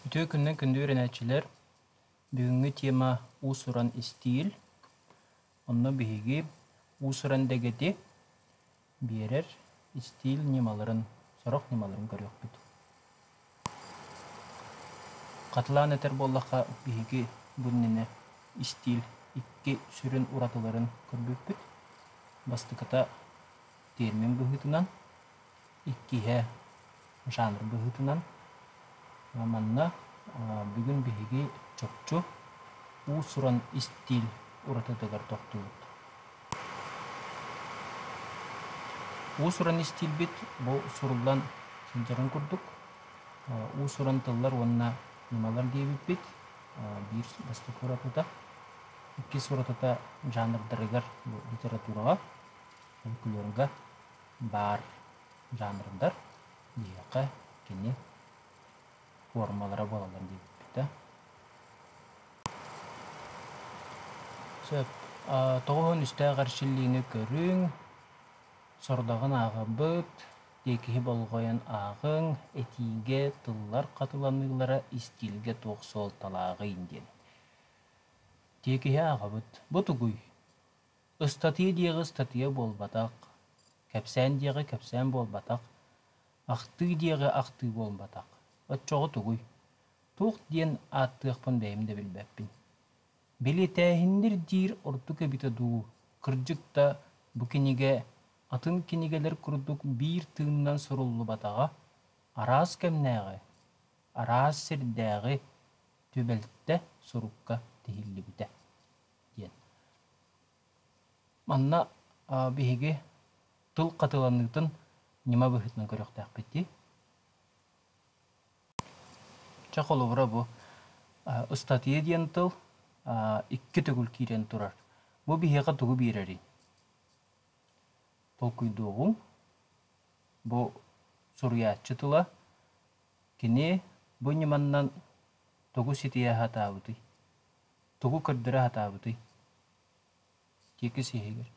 Үтүө күннэн күндү үөрэнээччилэр! Бүгүҥҥү тема уус-уран истиил. Онно биһиги уус-уран дэгэти биэрэр истиил ньымаларын, сорох ньымаларын көрүөхпүт. Хатылаан этэр буоллахха, биһиги бу иннинэ истиил икки сүрүн уратыларын көрбүппүт. Бастакыта термин быһыытынан, иккиһэ жанр быһыытынан манна бүгүн биһиги чопчу уус-уран истиил уратытыгар тохтуубут. Уус-уран истиилбит бу суруллан сылдьарын курдук уус-уран тыллар уонна ньымалар диэбиппит биир бастакы уратыта, иккис уратыта жанрдарыгар, литератураҕа, фольклорга баар жанрдар биһиэхэ кини формалара буолаллар диэбиппитэ сөп тоҕус уон үстээх эрчиллиини көрүҥ сордоҕун ааҕабыт тиэкиһи болҕойон ааҕыҥ этиигэ тыллар хатыланыылара истиилгэ туох суолталааҕый диэн тиэкиһи ааҕабыт бу тугуй Ыстатыйа диэҕи ыстатыйа буолбатах, кэпсээн диэҕи кэпсээн буолбатах, ахтыы диэҕи ахтыы буолбатах. Оччоҕо тугуй? Туох диэн ааттыахпын бэйэм да билбэппин. Били тээһиннир диир ордук эбитэ дуу, кырдьык да, бу кинигэ атын кинигэлэр курдук биир тыынынан суруллубатаҕа, араас кэмнээҕи, араас сирдээҕи түбэлтэ сурукка тиһиллибитэ. диэн. Манна биһиги тыл хатыланыытын ньыма быһыытынан көрүөхтээхпит дии. Чэ, холобура бу ыстатыйа диэн тыл икки төгүл киирэн турар. Бу биһиэхэ тугу биэрэрий? Толкуйдуоҕуҥ. Бу суруйааччы тыла. Кини бу ньыманан тугу ситийэ сатаабытый? тугу көрдөрө сатаабытый иккис иһигэр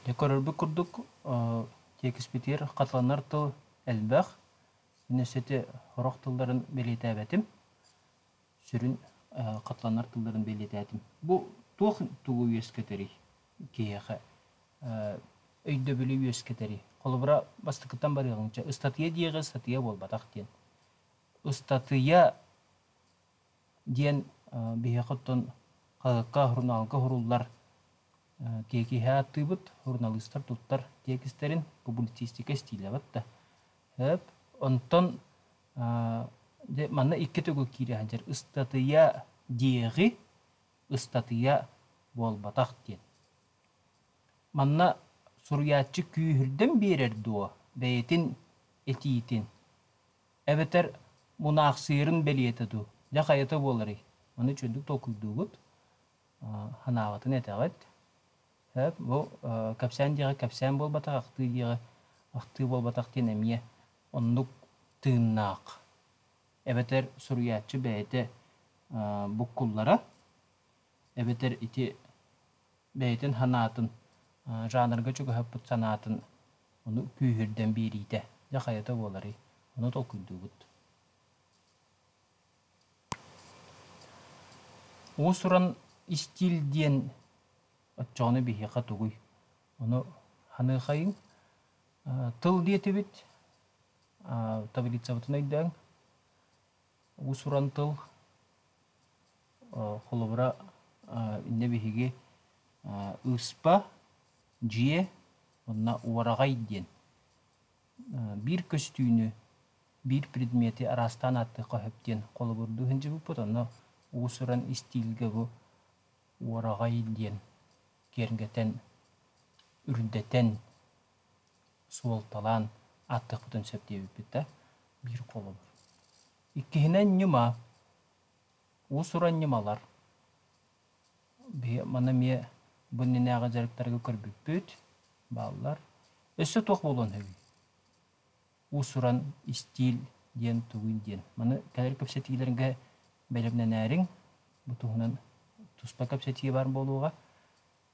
Дьэ көрөрбүт курдук тиэкиспитигэр хатыланар тыл элбэх. Өссө сити сорох тылларын бэлиэтээбэтим. сүрүн хатланар тылларын бэлиэтээтим. Бу туох тугу үөскэтэрий? Киһиэхэ өйдөбүлү үөскэтэрий? Холобура, бастакыттан барыаҕыҥча ыстатыйа диэҕи ыстатыйа буолбатах диэн. Ыстатыйа диэн биһиэхэ оттон хаһыакка, сурунаалга суруллар тиэкиһэ ааттыыбыт, суруналыыстар туттар тиэкистэрин, публицистика стилэбит да. Онтон Дьэ, манна икки төгүл киирэ сылдьар ыстатыйа диэҕи ыстатыйа буолбатах диэн. Манна суруйааччы күүһүрдэн биэрэр дуо бэйэтин этиитин? Эбэтэр мунаахсыйарын бэлиэтэ дуу? Дьэ, хайата буоларый? Аны чуйдук толкуйдуубут, санаабытын этэҕит. Сөп, бу кэпсээн диэҕи кэпсээн буолбатах, ахтыы диэҕи ахтыы буолбатах диэн эмиэ Оннук тыыннаах эбэтэр суруйааччы бэйэтэ буккуллара, эбэтэр ити бэйэтин санаатын, жанрга чугаһаппыт санаатын ону күүһүрдэн биэриитэ, дьэ хайата буоларый, ону толкуйдуубут. Уус-уран истиил диэн оччоҕуна биһиэхэ тугуй? Ону ханыахайыҥ? тыл диэтибит таблицабытын өйдөөҥ уус-уран тыл холобура иннэ биһиги ырыспа дьиэ уонна уораҕай диэн биир көстүүнү биир предмети араастаан ааттыахха сөп диэн холобурдуу сылдьыбыппыт онно уус-уран истиилгэ бу уораҕай диэн киэргэтэн, үрдэтэн, суолталаан ааттыахпытын сөп диэбиппит да, биир холобур. Иккиһинэн ньыма. Уус-уран ньымалар. Маны эмиэ бу иннинээҕи дьарыктарга көрбүппүт, бааллар. Өссө туох буолуон сөбүй? уус-уран истиил диэн тугуй диэн. Маны кэлэр кэпсэтиилэргэ бэлэмнэнээриҥ. Бу туһунан туспа кэпсэтии баар буолуоҕа.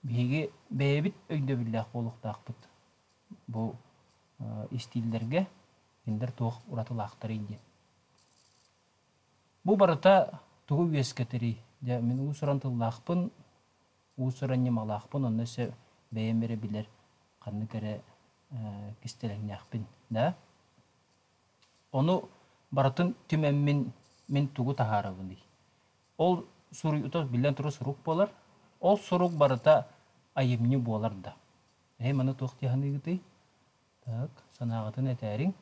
Биһиги бэйэбит өйдөбүллээх буолуохтаахпыт бу истииллэргэ кинилэр туох уратылаахтарый диэн. Бу барыта тугу үөскэтэрий? Дьэ, мин уус-уран тыллаахпын, уус-уран ньымалаахпын, онно өссө бэйэм эрэ билэр ханнык эрэ кистэлэҥнээхпин да. Ону барытын түмэммин мин тугу таһаарабыный? Ол суруйуута биллэн турар сурук буолар. Ол сурук барыта айымньы буолар да. Эһи маны туох дьаһаныыгытый? Так, санааҕытын этээриҥ.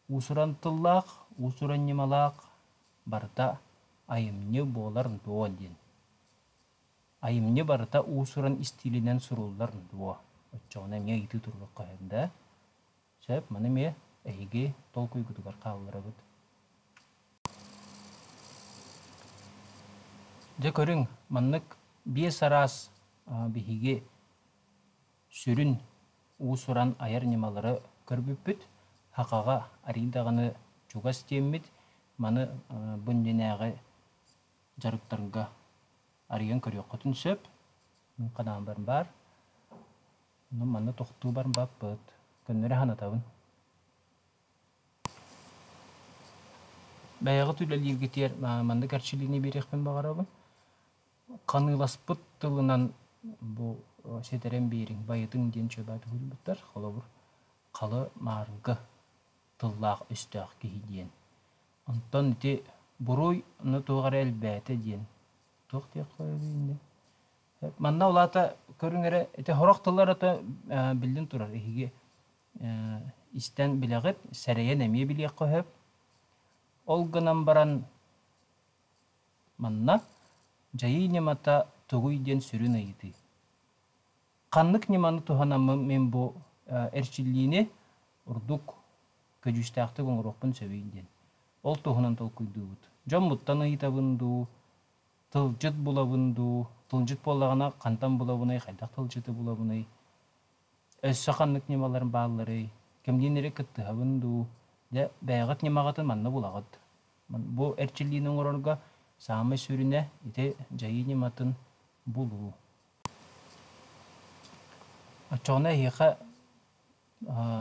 Уусуран тыллаах, уусуран ньымалаах барыта айымньы буолар дуо диэн. Айымньы барыта уус-уран истиилинэн суруллар дуо? Оччоҕуна эмиэ ыйытыы туруохха сөп да? Сөп, маны эмиэ эһиги толкуйгутугар хаалларабыт. Дьэ көрүҥ, маннык биэс араас биһиги сүрүн уус-уран айар ньымалары көрбүппүт. Хақаҕа арыый даҕаны чугас диэммит. Маны бу иннинээҕи дьарыктарга арыйан көрүөххүтүн сөп. Мин ханаалбарым баар. Ну, манна тохтуубарым баппыт. Көннөрө санатабын. Бэйэҕит үлэлииргитигэр маннык эрчилиини биэриэхпин баҕарабын. Ханыыласпыт тылынан бу ситэрэн биэриҥ, байытыҥ диэн чөбө төгүлбүттэр. Холобур, халы маарга тыллаах-өстөөх киһи диэн. Онтон ити буруй ну туох эрэ элбээтэ диэн туох диэх қоёбуй инде манна ол аата көрүҥ эрэ ити сорох тылларата биллэн турар эһиги истэн билэҕит сэрэйэн эмиэ билиэххэ сөп ол гынан баран манна дьайыы ньымата тугуй диэн сүрүн ыйытыы Ханнык ньыманы туһанаммын мин бу эрчиллиини ордук көдьүүстээхтик оҥоруохпун сөбүй диэн ол туһунан толкуйдуубут. Дьоммуттан ыйытабын дуу, тылдьыт булабын дуу, тылдьыт буоллаҕына хантан булабыный, хайдах тылдьыты булабыный, өссө ханнык ньымалар баалларый, кимниин эрэ кыттыһабын дуу, дьэ бэйэҕит ньымаҕытын манна булаҕыт. Бу эрчиллиини оҥорорго саамай сүрүнэ ити дьайыы ньыматын булуу. Оччоҕуна эһиэхэ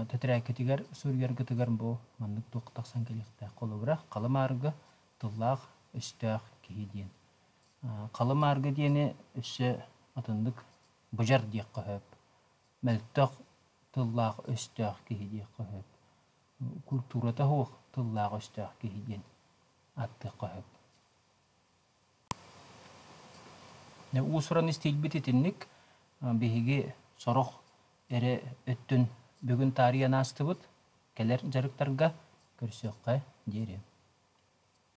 тэтэрээккитигэр суруйаргытыгар бу маннык туох тахсан кэлиэхтээх холобура халымаарга тыллаах өстөөх киһи диэн халымаарга диэни өссө атыннык быдьар диэххэ сөп мөлтөх тыллаах өстөөх киһи диэххэ сөп культурата суох тыллаах өстөөх киһи диэн ааттыахха сөп Уус-уран истиилбит итинник. Биһиги сорох эрэ өттүн бүгүн таарыйан аастыбыт, кэлэр дьарыктарга көрсүөххэ диэри